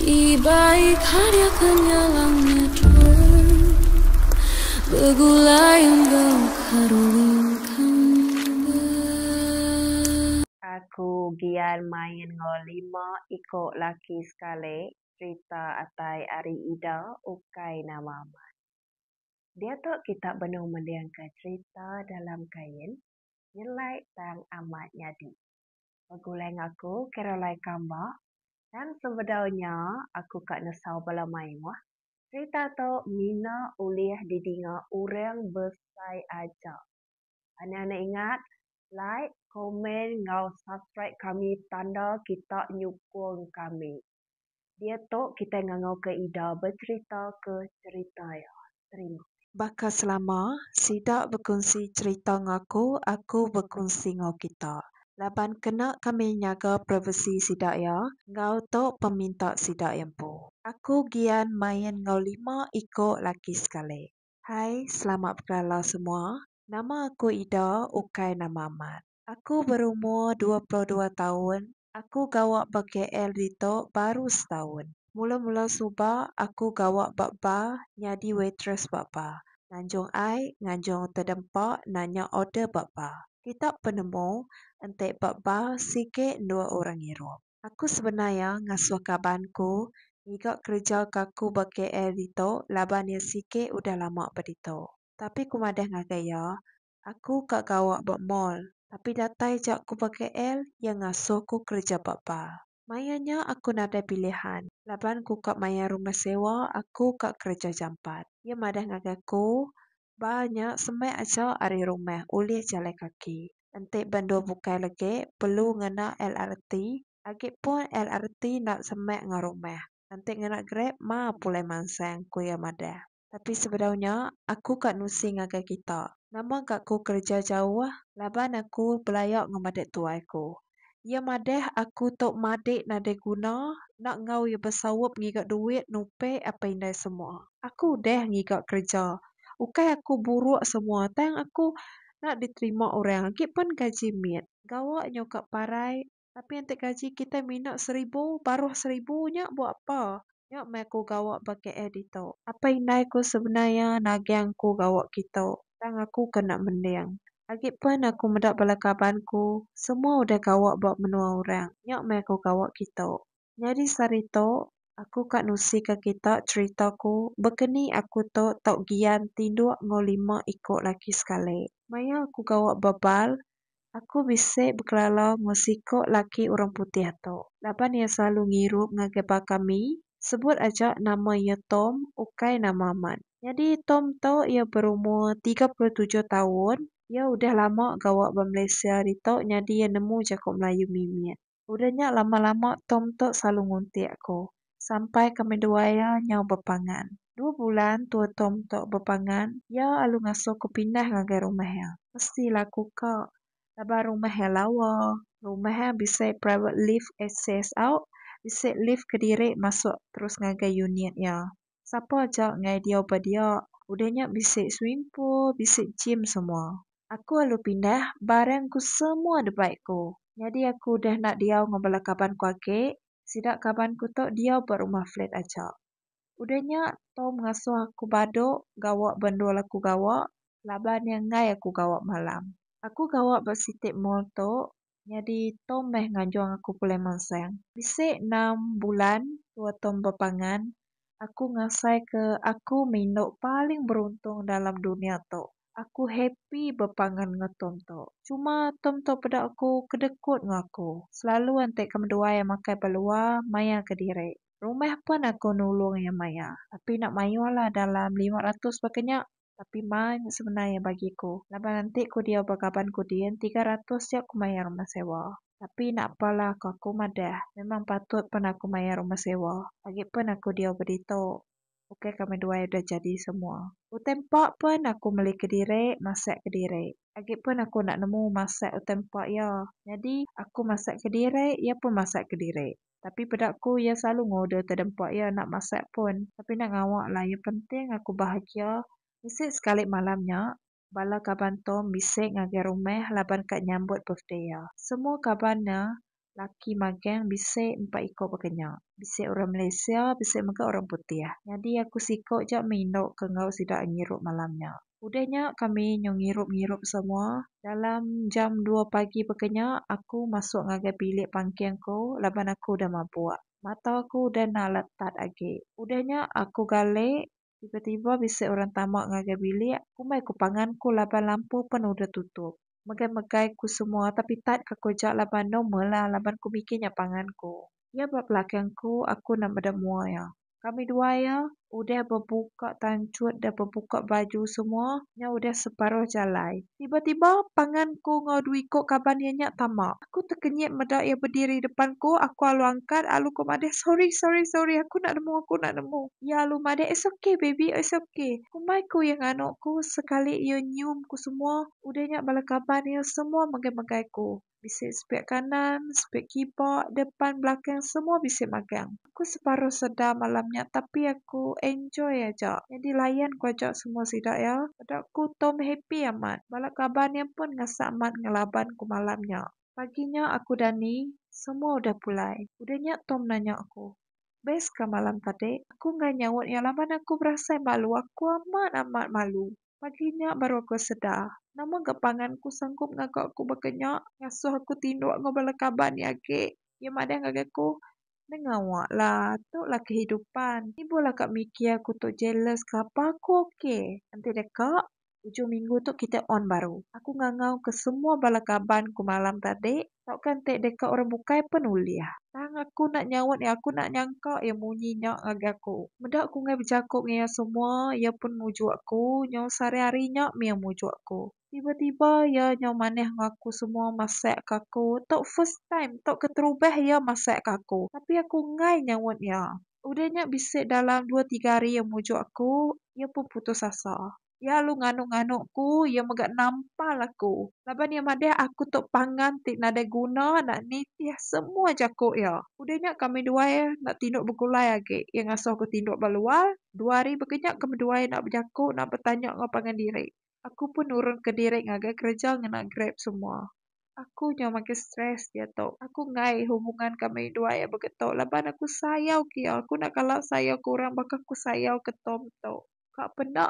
Ibai karya kenyalang nyedul begulai enggau karuling kembar. Aku gian main enggau lima iko laki sekali cerita atai ari ida ukai nama amat. Diatu kita benung melingka cerita dalam kain nyelai tang amat nyadi. Begulai enggau aku Caroline Kamba tang sebedau nya aku ka nesau bala mayuh serita tu mina ulih didinga urang besai aja. Anang ne ingat like, komen enggau subscribe kami tanda kita nyukung kami. Diatu kitai ngangauka ida becheritaka cherita iya. Terima. Baka selama, sida bekunsi cherita enggau aku, aku bekunsi enggau kita. Laban kena kami nyaga privasi sida iya enggau tu peminta sida iya empu. Aku gian main enggau lima iko laki sekali. Hai, selamat bekelala semua. Nama aku Ida, ukai nama amat. Aku berumur dua puluh dua taun, aku gawa ba KL ditu baru setaun. Mula-mula suba aku gawa ba bar nyadi waitress ba bar. Nganjung ai, nganjung tedempa nanya order ba bar. Kita penemu enti ba bar sigi endua orang irup. Aku sebenar iya ngasuh kaban ku ngiga kereja ke aku ba KL ditu laban iya sigi udah lama ba ditu. Tapi ku madah ngagai iya, Aku ka gawa ba mall, tapi datai ja aku ba KL iya ngasuh ku kereja ba bar. Maya nya aku nadai pilihan laban ku ka mayar rumah sewa aku ka kereja jampat. Iya madah ngagai aku, bar nya semai aja ari rumah ulih jalai kaki. Enti ba endur bukai legi perlu ngena LRT, agi pun LRT enda semai enggau rumah. Enti ngena Grab ma pulai mansang, ku iya madah. Tapi sebedau nya, aku ka nusi ngagai kita. Nama ga ku kereja jauh? Laban aku belaya ngemedit tuai ku. Iya madah aku tu madik nadai guna, enda enggau iya besaup ngiga duit nupik apai indai semua. Aku udah ngiga kereja. Ukai aku buruk semua tang aku enda diterima orang agi pen gaji mit. Gawa nyu ka parai Tapi enti gaji kitai mina seribu baruh seribu nya buah apa? Nya meh aku gawa ba KL ditu. Apai indai ku sebenar iya naging aku gawa kitu tang aku ke enda mending. Agi pen aku meda bala kaban ku semua udah gawa ba menua orang nya meh aku gawa kitu. Nyadi sehari tu, aku ka nusika kita cherita aku bekeni aku tu tau gian tinduk enggau lima iku laki sekali. Maya aku gawa bebal, aku bisi bekelala enggau siku laki orang putih tu. Laban iya selalu ngirup ngagai baka mi, sebut aja nama iya Tom ukai nama amat. Nyadi Tom tu iya berumur tiga puluh tujuh taun, iya udah lama gawa ba Malaysia ari tu nyadi iya nemu jaku Melayu mimit. Udah nya lama-lama Tom tu selalu nguntik aku sampai kami dua iya nyau bepangan. Dua bulan tua Tom tu bepangan iya alu ngasuh aku pindah ngagai rumah iya. Mesti lah aku ka laban rumah iya lawa, rumah iya bisi private lift access au bisi lift kediri masuk terus ngagai unit iya. Sapa aja ngai diau ba dia. Udah nya bisi swimming pool, bisi gym semua. Aku alu pindah barang ku semua da bai ku. Nyadi aku udah enda diau enggau bala kaban ku agi. Sida kaban ku tu diau ba rumah flat aja. Udah nya Tom ngasuh aku badu gawa ba endur aku gawa laban iya ngai aku gawa malam. Aku gawa ba siti mall tu nyadi tom meh ngajong aku pulai mansang. Bisi enam bulan tua tom bepangan, aku ngasai ke aku meh indu paling beruntung dalam dunia tu. Aku happy bepangan enggau tom tu. Cuma tom tu peda aku kedekut enggau aku. Selalu enti ke menduai iya makai ba lua maia ke diri. Rumah pun aku nulung iya maia. Tapi enda mayuh lah dalam lima ratus ba ke nya. Tapi maa nya sebenar iya bagi aku laban enti ku diau ba kaban ku din tiga ratus ja ku mayar rumah sewa. Tapi napa lah ku aku madah memang patut pen aku mayar rumah sewa agi pen aku diau ba ditu ukai kami duai udah jadi semua. Utai empa pen aku meli kediri masak kediri agi pen aku enda nemu masak utai empa iya nyadi aku masak kediri iya pun masak kediri. Tapi peda aku iya selalu ngoder tedempa iya enda masak pun. Tapi enda ngawa lah iya penting aku bahagia. Bisi sekali malam nya bala kaban Tom bisi ngagai rumah laban ka nyambut birthday iya. Semua kaban nya laki magang bisi empat iko baka nya. Bisi orang Malaysia bisi mega orang putih. Nyadi aku siko ja meh indu ke enggau sida ngirup malam nya. Udah nya kami nyau ngirup-ngirup semua. Dalam jam dua pagi baka nya aku masuk ngagai bilik pangking aku laban aku udah mabuk. Mata aku udah enda letat agi. Udah nya aku galih, tiba-tiba bisi orang tama ngagai bilik. Kumbai ku pangan ku laban lampu pen udah tutup. Megai-megai ku semua tapi tat ka ku aja laban normal lah laban ku mikir nya pangan ku. Iya ba belakang aku, aku enda meda mua iya. Kami dua iya udah bebuka tanchut dah bebuka baju semua nya udah separuh jalai. Tiba-tiba pangan aku enggau dua iko kaban iya nya tama. Aku tekenyit meda iya bediri depan aku, aku alu angkat alu ko madah sorry sorry sorry aku enda nemu aku enda nemu. Iya alu madah it's ok baby it's ok. Kumbai ku iya nganu ku sekali iya nyium ku semua udah nya bala kaban iya semua megai-megai ku. Bisi spare kanan, spare kiba, depan, belakang semua bisi magang. Aku separuh sedar malam nya tapi aku enjoy aja. Nyadi layan ku aja semua sida iya. Peda ku Tom happy amat. Bala kaban iya pun ngasah amat ngelaban ku malam nya. Pagi nya aku dani, semua udah pulai. Udah nya Tom nanya aku, Best ka malam tadi? Aku enggai nyaut iya laban aku berasai malu. Aku amat amat malu. Pagi nya baru aku sedar, nama ga pangan ku sanggup ngaga aku baka nya, ngasuh aku tinduk enggau bala kaban iya agi. Iya madah ngagai aku, Nengah awak lah, tu lah kehidupan. Ni boh lah ka mikir aku tu jealous kelapa aku ok. Enti deka, ujung minggu tu kitai on baru. Aku ngangau ke semua bala kaban ku malam tadi, Tauka enti deka orang bukai pen ulih. Tang aku enda nyaut iya aku enda nyangka iya munyi nya ngagai aku. Meda aku enggai bejako enggau iya semua iya pun mujuk aku nyau sehari hari nya mih iya mujuk aku. Tiba tiba iya nyau manah enggau aku semua masak ke aku tu first time tu keterubah iya masak ke aku tapi aku enggai nyaut iya. Udah nya bisi dalam dua tiga hari iya mujuk aku iya pun putus asa. Iya lalu nganuk-nganuk aku, iya mega nampal aku laban iya madah aku tu pangan ti nadai guna enda nitih semua jaku iya. Udah nya kami duai enda tinduk begulai agi. Iya ngasuh aku tinduk ba luar. Dua hari baka nya kami duai enda bejaku, enda betanya enggau pangan diri. Aku pun nurunka diri ngagai kereja ngena Grab semua. Aku nya makin stress diatu. Aku enggai hubungan kami duai iya baka tu laban aku sayauka iya. Aku enda kala sayauka orang baka aku sayauka Tom tu. ka peda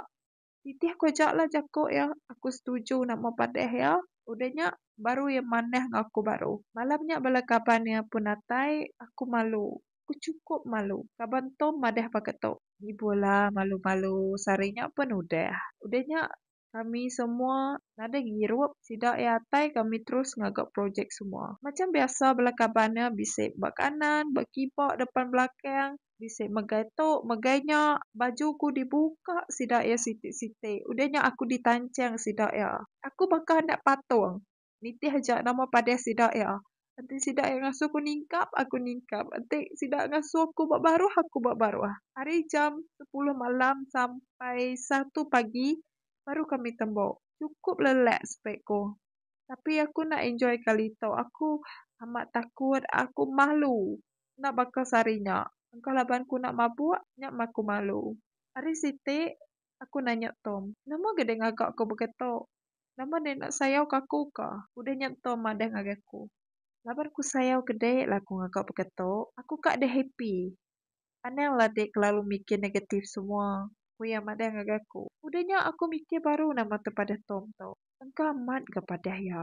nitih ku aja lah jaku iya aku setuju nama padeh iya udah nya baru iya manah enggau aku baru malam nya bala kaban iya pun datai aku malu aku chukup malu kaban tom madah pakai tu ibuh lah malu malu sehari nya pun udah udah nya. Kami semua nadai ngirup sida iya atai kami terus ngaga projek semua. Macam biasa bala kaban iya bisi ba kanan ba kiba depan belakang bisi megai tu megai nya baju ku dibuka sida iya siti-siti udah nya aku ditanchang sida iya. Aku baka anak patung. Nitih aja nama padah sida iya. Enti sida iya ngasuh aku ningkap, aku ningkap. Enti sida ngasuh aku ba baruh, aku ba baruh. Ari jam sepuluh malam sampai satu pagi baru kami tembu. Chukup lelak spek ku. Tapi aku enda enjoy kali tu. Aku amat takut, aku malu. Enda baka sehari nya. Engka laban ku enda mabuk, nya meh aku malu. Ari siti, aku nanya Tom. Nama gaga ngaga ku begitu? Nama deh enda sayau ke aku ka. Udah nya entu madah ngagai aku. Laban aku sayau ke dek la aku ngaga baka tu. Aku ka deh happy. Anang la dek kelalu mikir negatif semua ku iya madah ngagai aku. Udah nya aku mikir baru nama tepadah Tom tu. Engka amat ga padah iya.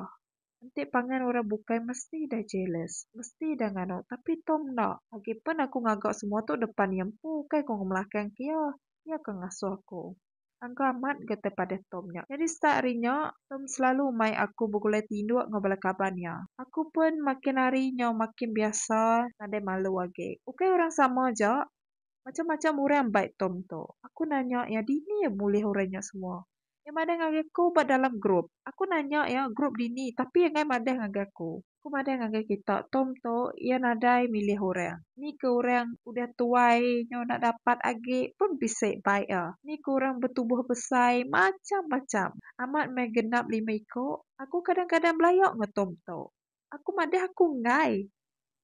Enti pangan orang bukai mesti dah jealous, mesti dah nganu tapi Tom enda. Agi pen aku ngaga semua tu depan iya empu ukai ku ngemelakang ke iya. Iya ke ngasuh aku. Angka amat ga tepadah Tom nya. Nyadi start ari nya, Tom selalu mai aku begulai tinduk enggau bala kaban iya. Aku pen makin hari nyau makin biasa nadai malu agi. Ukai orang sama aja, macam-macam orang bai Tom tu. Aku nanya iya dini iya mulih orang nya semua. Iya madah ngagai aku ba dalam grup. Aku nanya iya grup dini tapi iya enggai madah ngagai aku. Aku madah ngagai kita Tom tu iya nadai milih orang. Ni ke orang udah tuai nyu enda dapat agi pun bisi bai iya. Ni ke orang betubuh besai macham-macham. Amat meh genap lima iku. Aku kadang-kadang belaya enggau Tom tu. Aku madah aku enggai.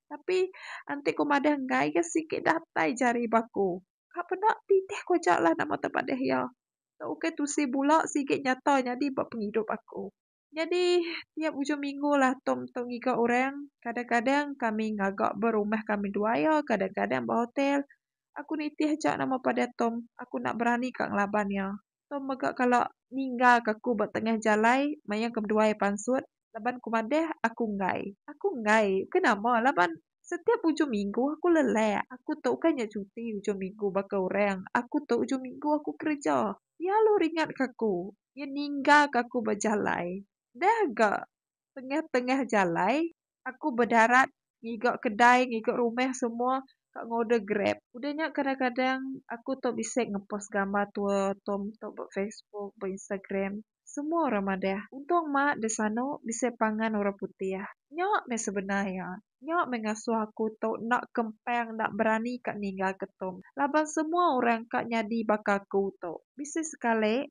Tapi enti ku madah enggai iya sigi datai jari ba aku. Ka peda pitih ku aja lah nama te padeh iya. Tok ukai tusi bula sigi nyata nyadi ba pengidup aku. Nyadi tiap ujung minggu lah Tom tu ngiga orang. Kadang-kadang kami ngaga ba rumah kami dua iya, kadang-kadang ba hotel. Aku nitih aja nama padeh Tom. Aku enda berani ka ngelaban iya. Tu mega kala ninggal ka aku ba tengah jalai mayang ke beduai pansut laban ku madah aku enggai. Aku enggai ke nama laban setiap ujung minggu aku lelak. Aku tu ukai nya cuti ujung minggu baka orang. Aku tu ujung minggu aku kereja. Iya lu ringat ka aku. Iya ninggal ka aku ba jalai. Dah ga tengah-tengah jalai aku bedarat ngiga kedai ngiga rumah semua ka ngorder grab. Udah nya kadang-kadang aku tau bisi ngepost gambar tu tu tu ba facebook ba instagram semua orang madah untung ma da sano bisi pangan orang putih. Nya meh sebenar iya nya meh ngasuh aku tu enda kempang enda berani ka ninggal ke tu laban semua orang ka nyadi baka aku tu bisi sekali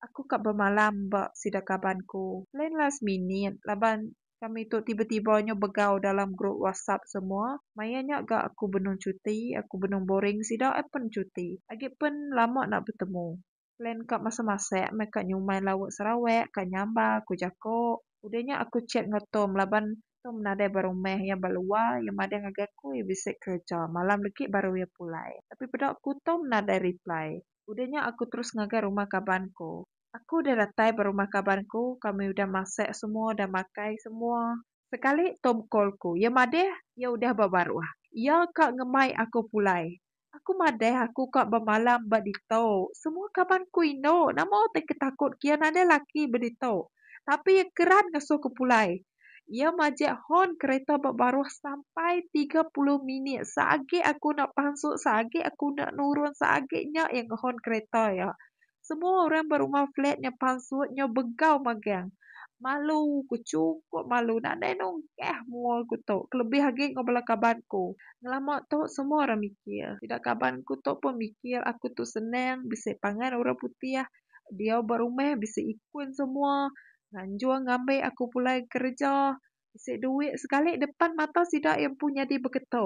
Aku ka bemalam ba sida kaban ku. Plan last minute laban kami tu tiba tiba nyu begau dalam group whatsapp semua. Maya nya ga aku benung cuti, aku benung boring sida ai pen cuti. Agi pen lama enda betemu. Plan ka masak masak meh ka nyumai lauk sarawak ka nyamba ku jako. Udah nya aku chat enggau tom laban tom nadai ba rumah iya ba luar iya madah ngagai aku iya bisi kerja malam legi baru iya pulai. Tapi peda aku tom nadai reply. Udah nya aku terus ngagai rumah kaban ku. Aku udah datai ba rumah kaban ku, kami udah masak semua, udah makai semua. Sekali Tom call ku. Iya madah, iya udah ba baruh. Iya ka ngemai aku pulai. Aku madah aku ka bemalam ba ditu. Semua kaban ku indu, nama utai ke takut ke iya nadai laki ba ditu. Tapi iya keran ngasuh ku pulai. Iya majak horn kereta ba baruh sampai tiga puluh minit. Seagi aku enda pansut, seagi aku enda nurun, seagi nya iya ngehorn kereta iya. Semua orang ba rumah flat nya pansut, nyau begau magang. Malu ku, chukup malu. Nadai nunggah mua aku tu, kelebih agi enggau bala kaban aku. Ngelama tu semua orang mikir. Sida kaban aku tu pun mikir aku tu senang, bisi pangan orang putih. Diau ba rumah bisi ikun semua. Nganjung ngambi aku pulai kereja bisi duit sekali depan mata sida iya empu nyadi beketo.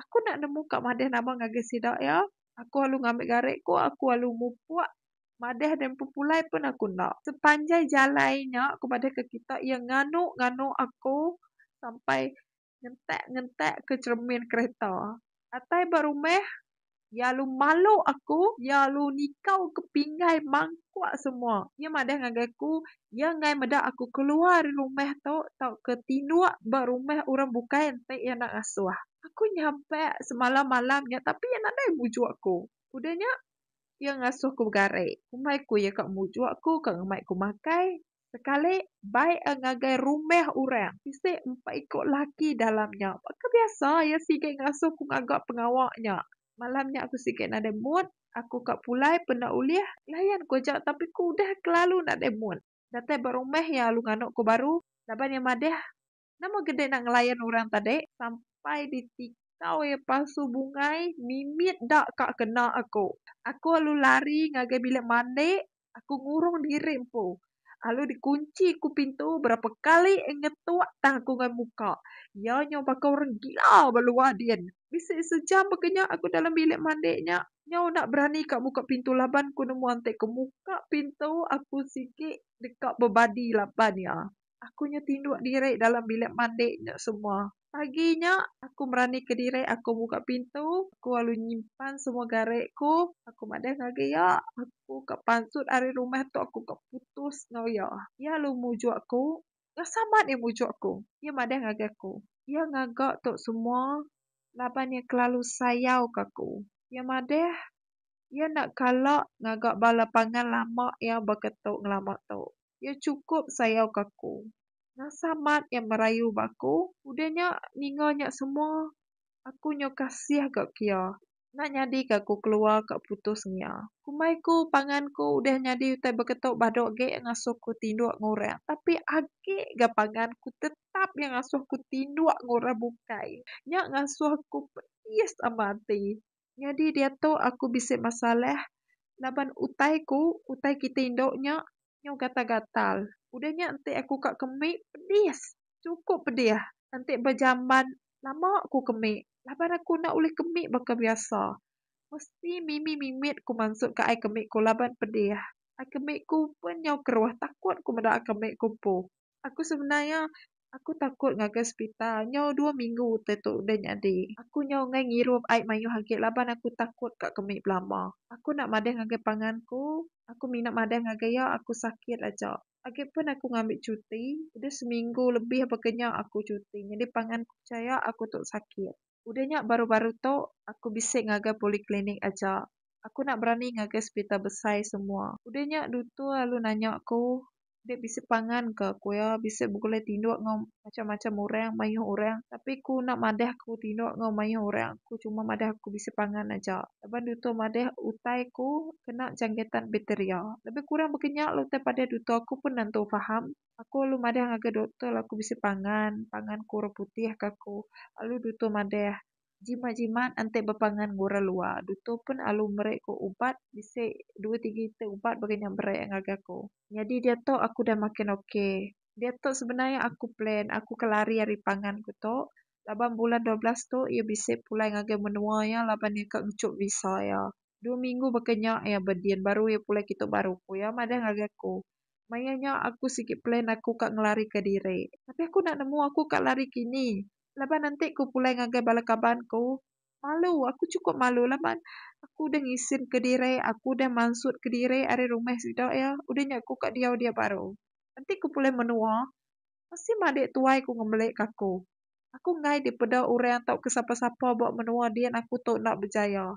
Aku enda nemu ka madeh nama ngagai sida iya. Aku alu ngambi gari ku aku alu mupuk madeh deh empu pulai pun aku enda. Sepanjai jalai nya aku madahka kita iya nganu nganu aku sampai ngentak-ngentak ke cheremin kereta. Atai ba rumah, iya lalu malu aku, iya lalu nikau ke pinggai mangkuk semua. Iya madah ngagai aku, iya enggai meda aku keluar ari rumah tu tauka tinduk ba rumah orang bukai enti iya enda ngasuh. Aku nyabak semalam-malam nya tapi iya nadai mujok aku. Udah nya, iya ngasuh aku begari. Kombai ku iya ka mujok aku, ka ngemai aku makai. Sekali bai a ngagai rumah orang bisi empat iko laki dalam nya. Baka biasa iya sigi ngasuh aku ngaga pengawa nya. Malam nya aku sigi nadai mood. Aku ka pulai penda ulih layan ko aja tapi ku udah kelalu nadai mood. Datai ba rumah iya alu ngano ko baru laban iya madah Nama gede nak ngelayan orang tadi sampai ditikau iya palsu bungai mimit da ka kena aku. Aku alu lari ngagai bilik mandi aku ngurung diri empu alu dikunchi ku pintu berapa kali ngetuk tang aku ngan muka iya nyau baka orang gila ba luar din. Bisi sejam baka nya aku dalam bilik mandi nya nyau enda berani ka muka pintu laban ku nemu anti ke muka pintu aku sigi deka bebadi laban iya. Aku nya tinduk diri dalam bilik mandi nya semua. Pagi nya, aku meranika diri aku muka pintu. Aku lalu nyimpan semua gari aku. Aku madah ngagai iya. Aku ka pansut ari rumah tu aku ka putus enggau iya. Iya lalu mujuk aku. Ngasa amat iya mujuk aku. Iya madah ngagai aku. Iya ngaga tu semua laban iya kelalu sayauka aku. Iya madah, iya enda kala ngaga bala pangan lama iya baka tu ngelama tu. Iya chukup sayauka aku. Ngasa mat iya merayu ba aku. Udah nya, ninga nya semua, aku nyau kasih ga ke iya. Enda nyadika aku keluar ka putus enggin iya. Kumbai aku, pangan aku udah nyadi utai beketu badu agi iya ngasuh aku tinduk enggau orang. Tapi agi ga pangan aku tetap iya ngasuh aku tinduk enggau orang bukai. Nya ngasuh aku pedis amat ati. Nyadi diatu aku bisi masalah laban utai ku, utai kitai indu nya nyau gatal-gatal. Udah nya enti aku ka kemi pedis, chukup pedis. Enti ba jamban lama ku kemi laban aku enda ulih kemi baka biasa. Mesti mimit-mimit ku mansut ka ai kemi ku laban pedis. Ai kemi ku pun nyau keruh takut ku meda ai kemi ku empu. Aku sebenar iya aku takut ngagai sepital nyau dua minggu utai tu udah nyadi. Aku nyau enggai ngirup ai mayuh agi laban aku takut ka ke mih belama. Aku enda madah ngagai pangan ku, aku mina madah ngagai iya aku sakit aja. Agi pun aku ngambi cuti, udah seminggu lebih baka nya aku cuti nyadi pangan ku pechaya aku tu sakit. Udah nya baru-baru tu aku bisi ngagai poliklinik aja. Aku enda berani ngagai sepital besai semua. Udah nya dutur alu nanya aku, Dek bisi pangan ke? Ku iya, Bisi begulai tinduk enggau macam-macam orang, mayuh orang. Tapi aku enda madah aku tinduk enggau mayuh orang. Aku cuma madah aku bisi pangan aja. Laban dutur madah utai aku kena jangkitan bakteria. Lebih kurang baka nya lah utai padah dutur aku pun nentu faham. Aku alu madah ngagai doktor lalu aku bisi pangan, pangan ku orang putih ka ku. Alu doktor madah, jimat jimat enti bepangan ngan orang luar. Doktor pun alu meri ku ubat bisi dua tiga iti ubat baka nya meri ngagai aku. Nyadi diatu aku udah makin ok. Diatu sebenar iya aku plan aku ke lari ari pangan ku tu laban bulan dua belas tu iya bisi pulai ngagai menua iya laban iya ka ngechup visa iya. Dua minggu baka nya iya bedin baru iya pulai kitu baru ku iya madah ngagai aku. Maya nya aku sigi plan aku ka ngelari ka diri. Tapi aku enda nemu aku ka lari kini laban enti ku pulai ngagai bala kaban ku malu aku chukup malu laban aku udah ngisin ka diri aku udah mansut ka diri ari rumah sida iya udah nya aku ka diau dia baru. Enti ku pulai menua mesti madik tuai ku ngembelik ka aku. Aku enggai dipeda orang tauka sapa-sapa ba menua din aku tu enda bejaya.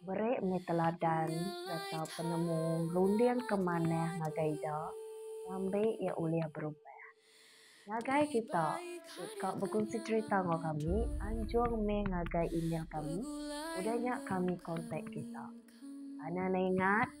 Beri mih teladan sereta penemu runding ke manah ngagai ida ngambi iya ulih berubah. Ngagai kita ti ka begunsi cherita enggau kami, anjung mih ngagai email kami udah nya kami kontak kita. Anang neingat.